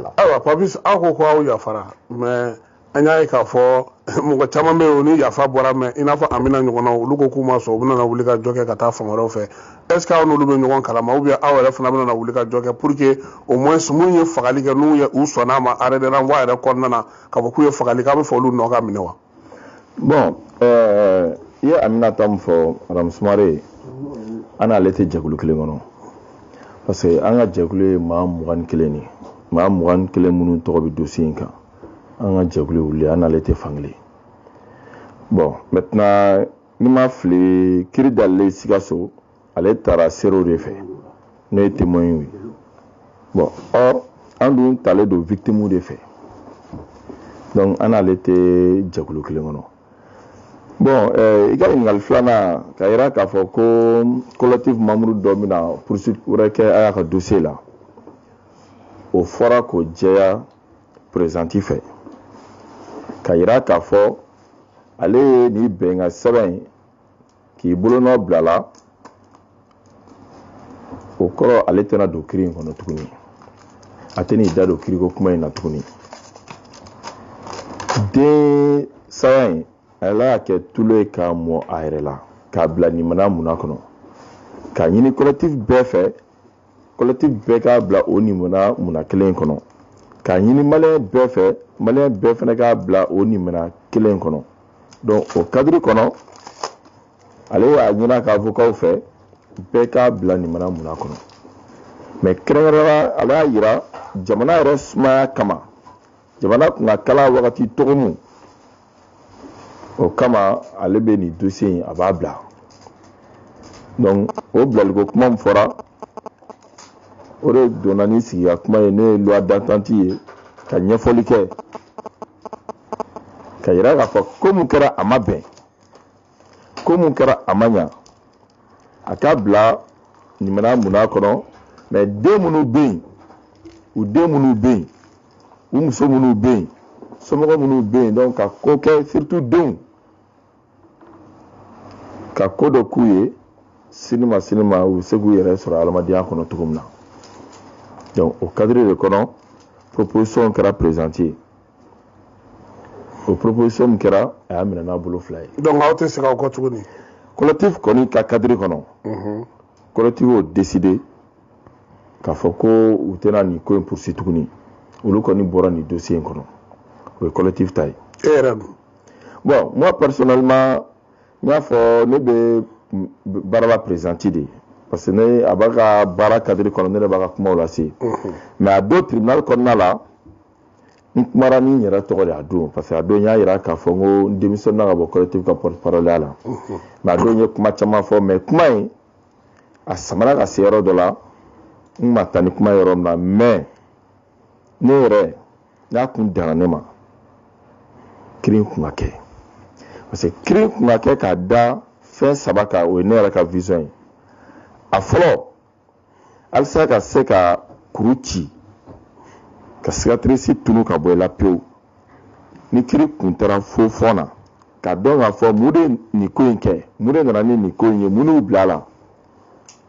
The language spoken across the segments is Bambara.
la ayiwa papis aw ko ko aw yafara mais an y'a ye k'a fɔ mɔgɔ caman bɛ yen o ni yafa bɔra mais i n'a fɔ amina ɲɔgɔnna olu ko k'u ma sɔn u bɛna na wuli ka jɔ kɛ ka taa fan wɛrɛw fɛ est ce que aw n'olu bɛ ɲɔgɔn kalama ou bien aw yɛrɛ fana bɛna na wuli ka jɔ kɛ pour que au moins minnu ye fagali kɛ n'u ye u sɔnna a ma arrêt de renvoi yɛrɛ kɔnɔna na k'a fɔ k'u ye fagali k'a bɛ fɔ olu nɔ ka minɛ wa bon eh, i ye aminata min fɔ madame sumare an n'ale tɛ jɛkulu kelen kɔnɔ parce que an ka jɛkulu ye maa mugan ni kelen de maa mugan ni kelen minnu tɔgɔ bɛ dossier in kan an ka jɛkulu ye olu ye an n'ale tɛ fan kelen bon maintenant ni n ma fili kiri dayɛlɛlen sikaso ale taara seerew de fɛ n'o ye témoins ye bon or an dun talen don victimes de fɛ donc an n'ale tɛ jɛkulu kelen kɔnɔ bon eh, i ka ɲininkali filanan ka yira k'a fɔ ko collectif membre dɔ bɛna poursuite wɛrɛ kɛ a y'a ka dossier la o fɔra k'o jɛya présidente fɛ ka yira k'a fɔ ale ye nin bɛnkan sɛbɛn in k'i bolonɔ bila a la o kɔrɔ ale tɛna don kiri in kɔnɔ tuguni a tɛn'i da don kiriko kuma in na tuguni den saya in ale y'a kɛ tulu ye k'a mɔ a yɛrɛ la k'a bila nin mana mun na kɔnɔ k'a ɲini collectif bɛɛ fɛ collectif bɛɛ k'a bila o nimana muna kelen kɔnɔ k'a ɲini maliyɛn bɛɛ fɛ maliyɛn bɛɛ fana k'a bila o nimana kelen kɔnɔ donc o cadre kɔnɔ ale y'a ɲini a ka avocatw fɛ bɛɛ k'a bila nimana muna kɔnɔ mais kɛrɛnkɛrɛnna ale y'a yira jamana yɛrɛ sumaya kama jamana kun ka kala wagati togomu o kama ale bɛ nin dossier in a b'a bila donc o bilaliko kuma min fɔra o de donna ni sigi ka kuma ye n'o ye loi d'entente ye ka ɲɛfɔli kɛ ka yira k'a fɔ ko mun kɛra a ma bɛn ko mun kɛra a ma ɲa a k'a bila ɲumana muna kɔnɔ mais den minnu bɛ yen u den minnu bɛ yen u muso minnu bɛ yen somɔgɔ minnu bɛ yen donc ka ko kɛ surtout denw ka ko dɔ k'u ye sini ma sini ma u bɛ se k'u yɛrɛ sɔrɔ adamadenya kɔnɔ cogo min na donc o cadre de kɔnɔ proposition kɛra présidente ye o proposition min kɛra a y'a minɛ n'a bolo fila ye donc aw tɛ segin aw kɔ tuguni collectif kɔni ka cadre kɔnɔ mhm. collectif y'o décidé k'a fɔ ko u tɛna nin ko in poursuivre tuguni olu kɔni bɔra nin dossier in kɔnɔ o ye collectif ta ye e yɛrɛ dun bon moi personnellement n y'a fɔ ne bɛ baara la présidente de ye parce que ne a b'a ka baara cadre kɔnɔ ne de b'a ka kumaw lase mhm. mais a don tribunal kɔnɔna la n kumara ni n yɛrɛ tɔgɔ de a don parce que a don n y'a yira k'a fɔ n ko n démissionnena ka bɔ collectif ka porte parole ya la mais a don n ye kuma caman fɔ mais kuma in a samara ka se yɔrɔ dɔ la n ma taa ni kuma yɔrɔ min na mais ne yɛrɛ n'a kun danna ne ma kiri kun ka kɛ parce que kiri kun ka kɛ k'a da fɛn saba kan o ye ne yɛrɛ ka vision ye a fɔlɔ halisa ka se ka kuru ci ka cicatrice tunu ka bɔ i la pewu ni kiri kun taara fo fɔn na ka dɔn k'a fɔ mun de nin ko in kɛ mun de nana ni nin ko in ye mun y'u bila a la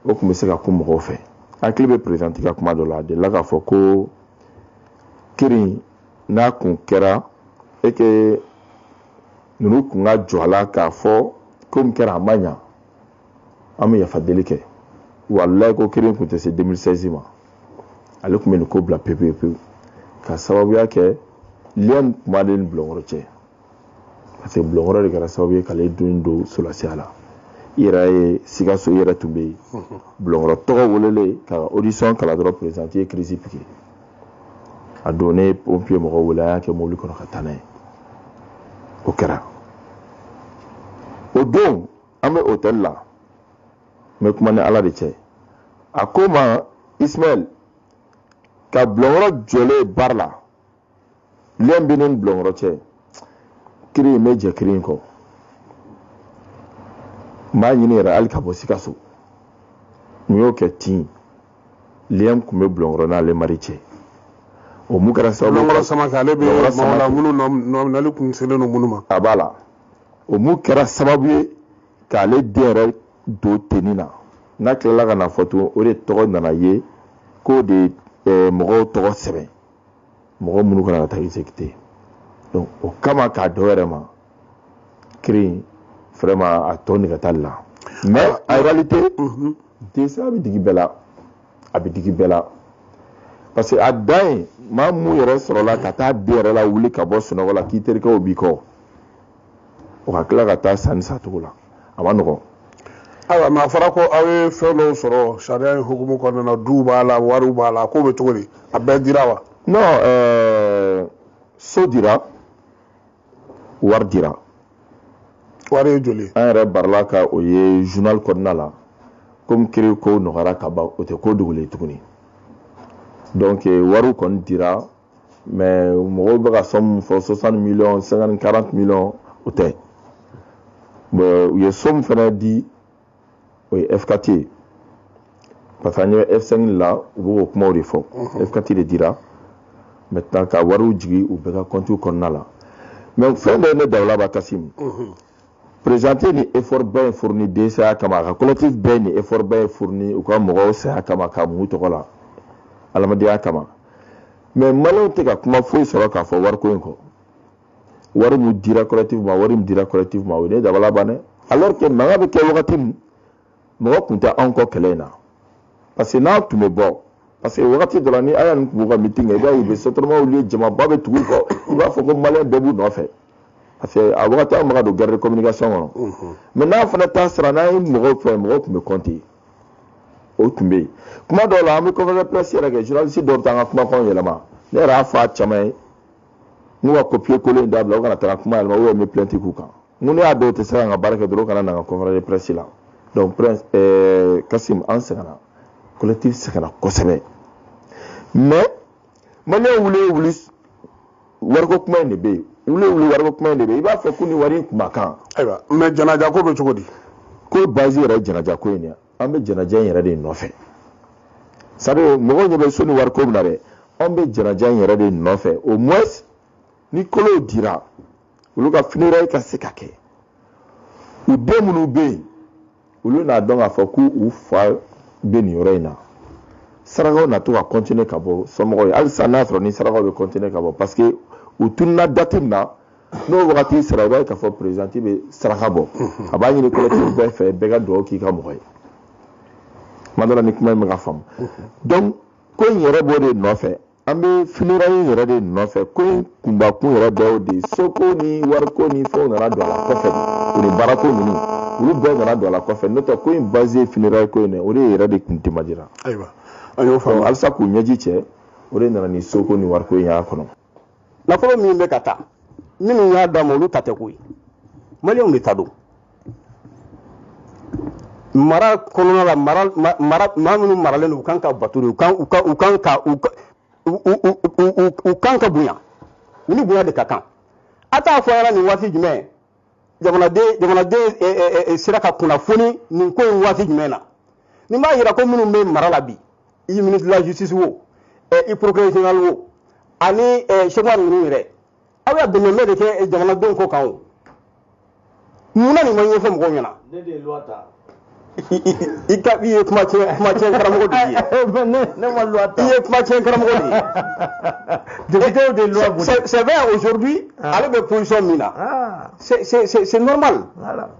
o tun bɛ se ka kun mɔgɔw fɛ hakili bɛ présidente ka kuma dɔ la a delila k'a fɔ ko kiri n'a kun kɛra et que ninnu kun ka jɔ a la k'a fɔ ko min kɛra a ma ɲa an bɛ yafa deli kɛ walayi ko kiri kun tɛ se 2016 ma ale tun bɛ nin ko bila pewu pewu ka sababuya kɛ lien tun b'ale ni bulɔnkɔrɔ cɛ parce que bulɔnkɔrɔ de kɛra sababu ye k'ale den don solasiya la i yɛrɛ ye sikaso i yɛrɛ tun bɛ yen bulɔnkɔrɔ tɔgɔ welelen ka audition kalan dɔrɔn présidente ye crise piqué a don ne ye pompier mɔgɔw wele a y'a kɛ mobili kɔnɔ ka taa n'a ye o kɛra o don an bɛ hôtel la n bɛ kuma ni ala de cɛ a ko n ma ismaël ka bulɔnkɔrɔ jɔlen barre la lien bɛ ne ni bulɔnkɔrɔ cɛ kiri in n bɛ jɛ kiri in kɔ n b'a ɲini yɛrɛ hali ka bɔ sikaso n y'o kɛ ten lien tun bɛ bulɔnkɔrɔ n'ale mari cɛ o mun kɛra sababu ye bulɔnkɔrɔ samake ale bɛ mɔgɔ la minnu nɔminali tun selen don minnu ma a b'a la o mun kɛra sababu ye k'ale den yɛrɛ don tenue na n'a tilala ka n'a fɔ tugun o de tɔgɔ nana ye k'o de ye eh, mɔgɔw tɔgɔ sɛbɛn mɔgɔ minnu ka kan ka taa exécuté donc o kama k'a dɔ yɛrɛ ma kiri in vraiment a tɔ nege t'ale la mais en réalité mhm. den saya bɛ digi bɛɛ la a bɛ digi bɛɛ la parce que a dan ye maa mun yɛrɛ sɔrɔla ka taa den yɛrɛ lawuli ka bɔ sunɔgɔ la k'i terikɛw b'i kɔ o ka tila ka taa sa nin sacogo la a ma nɔgɔn ayiwa mais a fɔra ko aw ye fɛn dɔw sɔrɔ sariya in hukumu kɔnɔna na duw b'a la wariw b'a la k'o bɛ cogo di a bɛɛ dira wa non ɛɛ so dira wari dira wari ye joli an yɛrɛ barila ka o ye journal kɔnɔna la komi kiri ko nɔgɔyara ka ban o tɛ ko dogolen tuguni donc eh, wariw kɔni dira mais mɔgɔw bɛ ka somme min fɔ 60 millions 50 40 millions o tɛ u ye somme fana di o ye F4 ye parce que an ye F5 la u bɛ k'o kumaw de fɔ F4 de dira maintenant ka wariw jigin u bɛɛ ka compte kɔnɔna la mais fɛn dɔ ye ne dabali ban kasim présidente ni effort bɛɛ fourni den saya kama a ka collectif bɛɛ ni effort bɛɛ fourni u ka mɔgɔw saya kama ka mun tɔgɔ la adamadenya kama mais maliyɛnw tɛ ka kuma foyi sɔrɔ k'a fɔ wariko in kɔ wari mun dira collectif ma wari mun dira collectif ma o ye ne dabali ban dɛ alors que mankan bɛ kɛ wagati min mɔgɔ tun tɛ anw kɔ kɛlɛ in na parce que n'a tun bɛ bɔ parce que wagati dɔ la ni aya nin tun b'u ka meeting kɛ i b'a ye u bɛ sotarama wuli jamaba bɛ tugu u kɔ i b'a fɔ ko maliyɛn bɛɛ b'u nɔfɛ parce que a wagati an bɛ ka don guerre de communication kɔnɔ mhm. mais n'an fana ta sera n'an ye mɔgɔw fɛ mɔgɔw tun bɛ compter o tun bɛ yen kuma dɔw la an bɛ conférence de presse yɛrɛ kɛ journaliste dɔw bɛ taa an ka kumakanw yɛlɛma ne yɛrɛ y'a fɔ a caman ye n'u ka copier coller in dabila u kana taga kuma yɛlɛma ou bien n bɛ plainte k'u kan n ko ni a dɔw tɛ se ka n ka baara kɛ dɔrɔn u kana na n ka conférence de presse la donc prince eh, kasim an sɛgɛnna collectif sɛgɛnna kosɛbɛ mais maliyɛn wuli ye wuli wariko kuma in de bɛ yen wuli ye wuli wariko kuma in de bɛ yen i b'a fɔ ko nin wari in kun ma kan ayiwa mais janaja ko bɛ cogo di ko base yɛrɛ ye janaja ko in de ye an bɛ janaja in yɛrɛ de nɔfɛ sabu mɔgɔw ɲɛ bɛ so ni wariko min na dɛ an bɛ janaja in yɛrɛ de nɔfɛ au moins ni kolow dira olu ka funérailles ka se ka kɛ u den minnu bɛ yen olu n'a dɔn k'a fɔ k'u fa bɛ nin yɔrɔ in na sarakaw na to ka continuer ka bɔ somɔgɔw ye halisa n'a sɔrɔ ni sarakaw bɛ continuer ka bɔ parce que u tununa date min na n'o wagati sera i b'a ye k'a fɔ présidente bɛ saraka bɔ a b'a ɲini collectif bɛɛ fɛ bɛɛ ka dugawu k'i ka mɔgɔ ye kuma dɔ la ni kuma in bɛ ka faamu donc ko in yɛrɛ b'o de nɔfɛ an bɛ funérailles in yɛrɛ de nɔfɛ ko in kunbakun yɛrɛ dɔ y'o de ye soko ni wariko ni fɛnw nana don a la kɔfɛ de o ni baarako ninnu olu bɛɛ nana don a la kɔfɛ n'o tɛ ko in base ye funérailles ko in dɛ o de yɛrɛ de kun demandéra ayiwa an y'o faamu halisa k'u ɲɛji cɛ o de nana ni soko ni wariko in y'a kɔnɔ nafolo min bɛ ka taa minnu y'a d'a ma olu ta tɛ koyi maliyɛnw de ta don mara kɔnɔna la mara mara maa minnu maralen don u kan ka bato de u kan u kan u kan ka u u kan ka bonya u ni bonya de ka kan a t'a fɔ an ɲɛna nin waati jumɛn jamanaden jamanaden eh, eh, eh, sera ka kunnafoni nin ko in waati jumɛn na nin b'a yira ko minnu bɛ mara la bi i ministre de la justice wo i procureur général wo ani chefs ninnu yɛrɛ aw y'a bɛnbɛn de kɛ jamanadenw kɔ kan o mun na nin ma ɲɛfɔ mɔgɔw ɲɛna i ka i ye kuma tiɲɛ kuma tiɲɛ karamɔgɔ de ye ne ma loi ta i ye kuma tiɲɛ karamɔgɔ de ye députés de loi boli c'est vrai aujourd'hui ah. ale bɛ position min na ah. c'est c'est c'est normal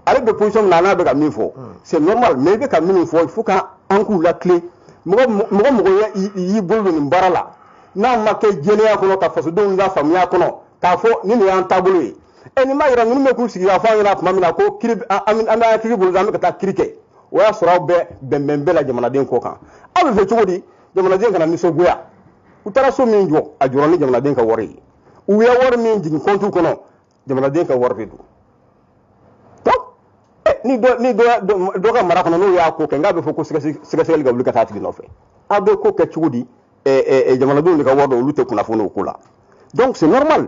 ale bɛ position min na n'a bɛ ka min fɔ hmm. c'est normal mais i bɛ ka min fɔ il faut que an k'u latilen mɔgɔ mɔgɔ mɔgɔ y'i bolo don nin baara la n'a ma kɛ jɛlenya kɔnɔ ka fasodenw lafaamuya kɔnɔ k'a fɔ ni nin y'an taabolo ye ɛ nin m'a yira ninnu bɛ k'u sigi k'a fɔ an ɲɛna tuma min na ko kiri an bɛ an kiri bolo an bɛ ka taa kiri kɛ o y'a sɔrɔ aw bɛ bɛnbɛn bɛɛ la jamanaden kɔ kan aw b'a fɛ cogo di jamanaden kana nisɔngoya u taara so min jɔ a jɔra ni jamanaden ka wari ye u ye wari min jigin compte kɔnɔ jamanaden ka wari de don ni dɔ ni dɔ dɔ ka mara kɔnɔ n'o y'a ko kɛ n k'a bɛ fɔ ko sɛgɛsɛgɛli ka wuli ka taa tigi nɔfɛ aw bɛ ko kɛ cogo di jamanadenw de ka wari don olu tɛ kunnafoni o ko la donc c'est normal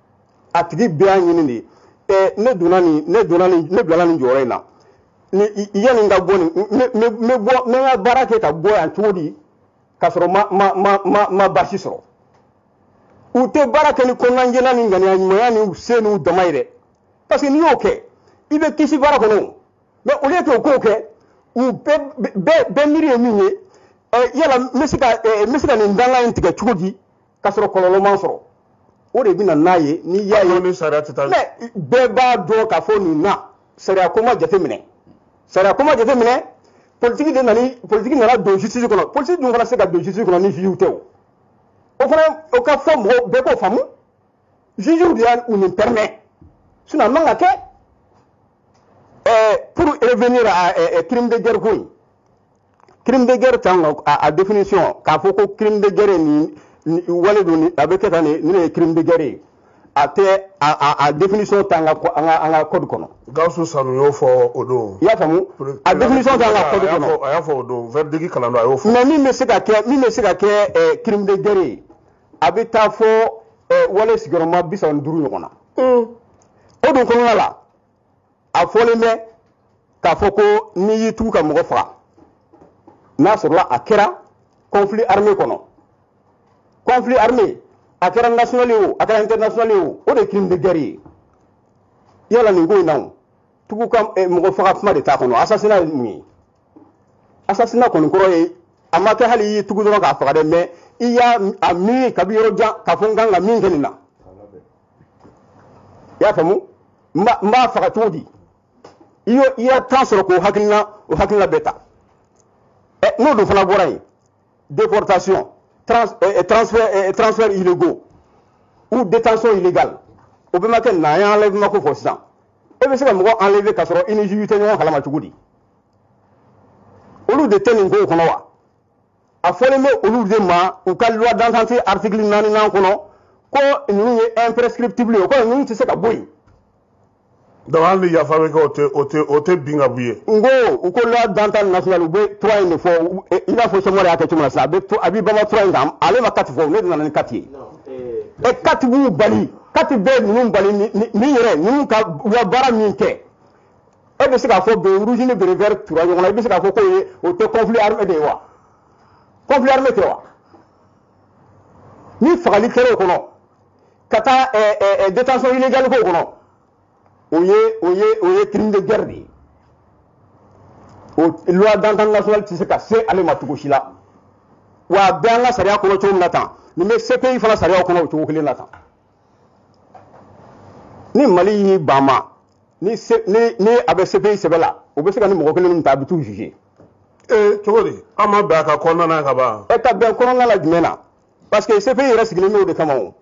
a tigi bɛɛ y'a ɲini de ye ne donna nin ne donna nin ne bilala nin jɔyɔrɔ in na ni yanni n ka bɔ nin n bɛ bɔ n bɛ n ka baara kɛ ka bɔ yan cogo di k'a sɔrɔ ma ma ma ma ma baasi sɔrɔ u tɛ baara kɛ ni kɔnɔnajɛya ni ŋaniya ɲumanya ni se n'u dama ye dɛ parce que n'i y'o kɛ i bɛ kisi baara kɔnɔ mais au lieu k'u k'o kɛ u bɛɛ bɛɛ bɛɛ miiri ye min ye yala n bɛ se ka n bɛ se ka nin dankan in tigɛ cogo di k'a sɔrɔ kɔlɔlɔ ma n sɔrɔ o de bɛ na n'a ye n'i y'a ye ni sariya tɛ taa mais bɛɛ b'a dɔn k'a fɔ nin na sariya ko ma jate minɛ sariya ko ma jate minɛ politiki de nana politiki nana don justice kɔnɔ politiki dun fana se ka don justice kɔnɔ ni jugew tɛ o o fana o ka fɔ mɔgɔw bɛɛ k'o faamu jugew de y'a u nin permet sinon a man ka kɛ ɛɛ pour revenir à crime de guerre ko in crime de guerre tan a, a définition k'a fɔ ko crime de guerre nin, nin wale don a bɛ kɛ tan nin de ye crime de guerre ye a tɛ a, a, a définition t'an ka an ka an ka code kɔnɔ. gawusu sanu y'o fɔ o don. i y'a faamu a définition t'an ka code kɔnɔ. a y'a fɔ o don verdict kalan don a y'o fɔ. mais min bɛ se ka kɛ min bɛ se ka kɛ eh, crime de guerre ye a bɛ taa fɔ eh, wale sigiyɔrɔma bi saba ni duuru ɲɔgɔn na. Mm. o dun kɔnɔna la. a fɔlen bɛ k'a fɔ ko n'i y'i tugu ka mɔgɔ faga n'a sɔrɔla a kɛra conflit armé kɔnɔ conflit armé a kɛra national ye o a kɛra international ye o o de ye crime de guerre ye yala nin ko in na o tugu ka eh, mɔgɔ faga kuma de t'a kɔnɔ assassinat ye mun ye assassinat kɔni kɔrɔ ye a ma kɛ hali i y'i tugu dɔrɔn k'a faga dɛ mais i y'a miiri kabi yɔrɔ jan k'a fɔ n kan ka min kɛ nin na i y'a faamu n b'a faga cogo di i y'o i y'a temps sɔrɔ k'o hakilina o hakilina bɛɛ ta ɛ n'o dun fana bɔra yen déportation trans ɛ transfert ɛ transfert illégaux ou détention illégale o bɛɛ ma kɛ n'an ye enlèvement ko fɔ sisan e bɛ se ka mɔgɔ enlever k'a sɔrɔ i ni juge tɛ ɲɔgɔn kalama cogo di olu de tɛ nin kow kɔnɔ wa a fɔlen bɛ olu de ma u ka loi d'entente article naaninan kɔnɔ ko ninnu ye imprescriptible ye ko ninnu tɛ se ka bɔ yen donc hali ni yafa bɛ kɛ o tɛ o tɛ o tɛ bin ka bɔ yen. n ko u ko loi d'entente nationale u bɛ trois in de fɔ i n'a fɔ sɛmɔri y'a kɛ cogo min na sisan a bɛ to a bɛ bama trois in kan ale ma quatre fɔ ne de nana ni quatre ye ɛ quatre b'u bali quatre bɛ ninnu bali ni ni yɛrɛ ninnu ka u ka baara min kɛ. e bɛ se k'a fɔ béret rouge ni béret vert tura ɲɔgɔn na i bɛ se k'a fɔ k'o ye o tɛ conflit armé de ye wa conflit armé tɛ wa ni fagali kɛra o kɔnɔ ka taa eh, eh, eh, détention illégale k'o kɔnɔ o ye o ye o ye crime de guerre de ye o loi d'entente nationale tɛ se ka se ale ma cogo si la wa a bɛ an ka sariya kɔnɔ cogo min na tan nin bɛ CPI fana sariyaw kɔnɔ o cogo kelen na tan. ni Mali y'i ban ma ni a bɛ CPI sɛbɛ la u bɛ se ka nin mɔgɔ kelen nin ta a bɛ t'u juger ee cogo di an ma bɛn a ka kɔnɔna na ka ban ɛ ka bɛn kɔnɔna la jumɛn na parce que CPI yɛrɛ sigilen bɛ o de kama o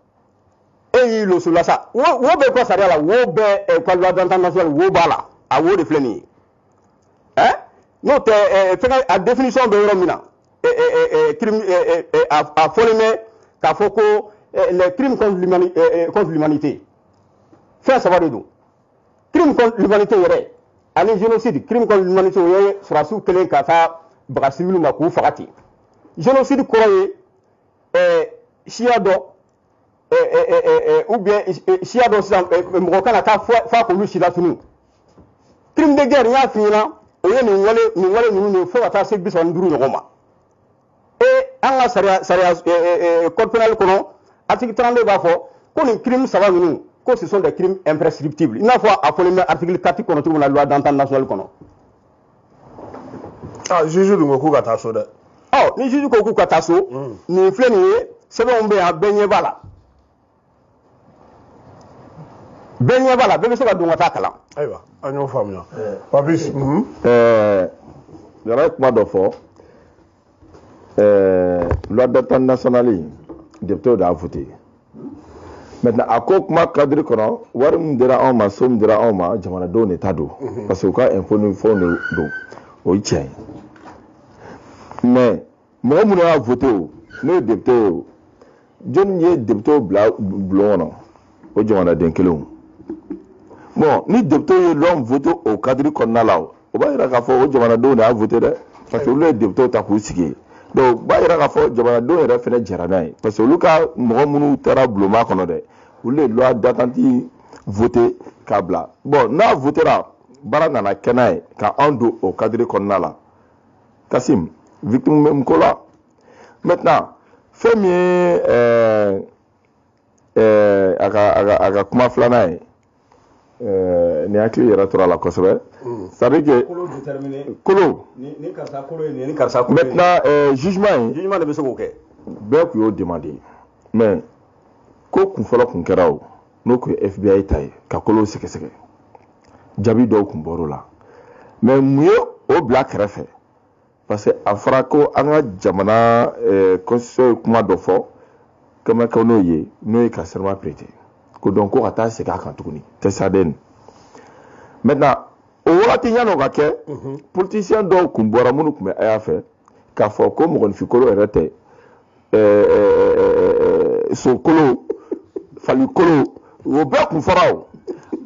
e y'i losu la sa wo bɛ ko sariya la wo bɛ ko loi d'entente nationale wo b'a la a wo de filɛ nin ye n'o tɛ fɛngɛ a définition bɛ yɔrɔ min na crime a fɔlen bɛ k'a fɔ ko les crimes contre l'humanité contre l'humanité fɛn saba de don crime contre l'humanité yɛrɛ ani génocide crime contre l'humanité o ye sɔrɔdasiw kɛlen ka taa baga civil ma k'u faga ten génocide kɔrɔ ye siya dɔ ou bien siya dɔ sisan mɔgɔ ka na taa faga k'olu si latunu crime de guerre n y'a f'i ɲɛna o ye nin wale nin wale ninnu de fo ka taa se bi saba ni duuru ɲɔgɔn ma e an ka sariya sariya code pénal kɔnɔ article 32 b'a fɔ ko nin crime saba ninnu ko ce sont des crimes imprescriptibles i n'a fɔ a fɔlen bɛ article 4 kɔnɔ cogo min na loi d'entente nationale kɔnɔ aa juge dun ko k'u ka taa so dɛ. ɔ ni juge ko k'u ka taa so. nin filɛ nin ye sɛbɛnw bɛ yan bɛɛ ɲɛ b'a la. bɛɛ ɲɛ b'a la bɛɛ bɛ se ka don ka taa kalan. ayiwa an y'o faamuya. Papis. ɛɛ Yɔrɔ ye kuma dɔ fɔ. eh, loi d'entente nationale in deputew de y'a vote maintenant a ko kuma kadiri kɔnɔ wari min dira anw ma so min dira anw ma jamanadenw de ta don mhm. parce que u ka impôt ni fɛnw de don o ye tiɲɛ ye mais mɔgɔ minnu y'a vote o n'o ye depute ye o jɔnni ye deputew bila bulon kɔnɔ o jamanaden kelenw bon ni deputew ye loi vote o kadiri kɔnɔna la o b'a yira k'a fɔ o jamanadenw de y'a vote dɛ parce que olu ye deputew ta k'u sigi yen donc o b'a yira k'a fɔ jamanadenw yɛrɛ fana jɛra n'a ye parce que olu ka mɔgɔ minnu taara bulonba kɔnɔ dɛ olu ye loi d'entente vote k'a bila bon n'a votera baara nana kɛ n'a ye ka anw don o kadiri kɔnɔna la Kasim victime bɛ mun ko la maintenant fɛn min ye ɛɛ ɛɛ a ka a ka a ka kuma filanan ye ɛɛ ne hakili yɛrɛ tora a la kosɛbɛ c'est à dire que kolo déterminer kolo ni ni karisa kolo ye nin ye ni karisa kolo ye nin ye maintenant ɛɛ jugement in jugement de bɛ se k'o kɛ bɛɛ tun y'o demandé mais ko kun fɔlɔ kun kɛra o n'o tun ye FBI ta ye ka kolow sɛgɛsɛgɛ jaabi dɔw kun bɔr'o la mais mun ye o bila kɛrɛfɛ parce que a fɔra ko an ka jamana eh, constitution ye kuma dɔ fɔ quand même kɛ n'o ye n'o ye ka serment prêter ko donc ko ka taa segin a kan tuguni tɛ saden maintenant o wagati yan'o ka kɛ mhm. politisiyɛn dɔw kun bɔra minnu kun bɛ Aya fɛ k'a fɔ ko mɔgɔninfinkolo yɛrɛ tɛ sokolo falikolo o bɛɛ kun fɔra o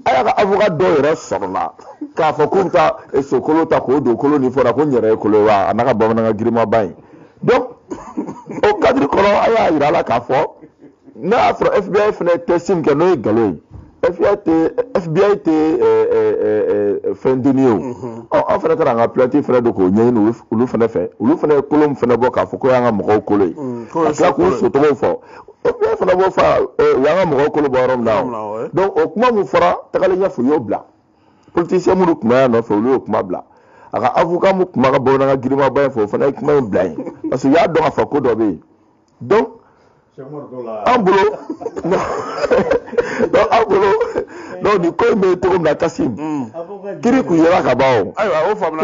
Aya ka avocat dɔw yɛrɛ sɔrɔla k'a fɔ k'u bɛ taa sokolo ta k'o don kolo nin fɔra ko n yɛrɛ ye kolo ye wa a n'a ka bamanankan girinmaba in donc o kadiri kɔnɔ a y'a yira a la k'a fɔ n'a y'a sɔrɔ FBI fana ye test min kɛ n'o ye nkalon ye FBI tɛ FBI tɛ fɛn deni ye o ɔ an fana taara an ka plainte fana don k'o ɲɛɲini olu f- olu fana fɛ olu fana ye kolo min fana bɔ k'a fɔ k'o y'an ka mɔgɔw kolo ye k'o ye ka tila k'u sokolo ye. sotɔgɔw fɔ FBI fana b'o fɔ eh, u y'an ka mɔgɔw kolo bɔ yɔrɔ min na yɔrɔ min na, o ouais. donc o kuma min fɔra tagalen ɲɛfɛ u y'o bila politisiyɛn minnu tun bɛ Aya nɔfɛ olu y'o kuma bila a ka avocat min tun b'a ka bamanankan girinmaba in fɔ o fana ye kuma in bila yen parce que u y'a dɔn k'a fɔ ko dɔ bɛ yen donc an bolo donc an bolo donc nin ko in bɛ cogo min na Kasim kiri kun yera ka ban o. ayiwa o faamuna.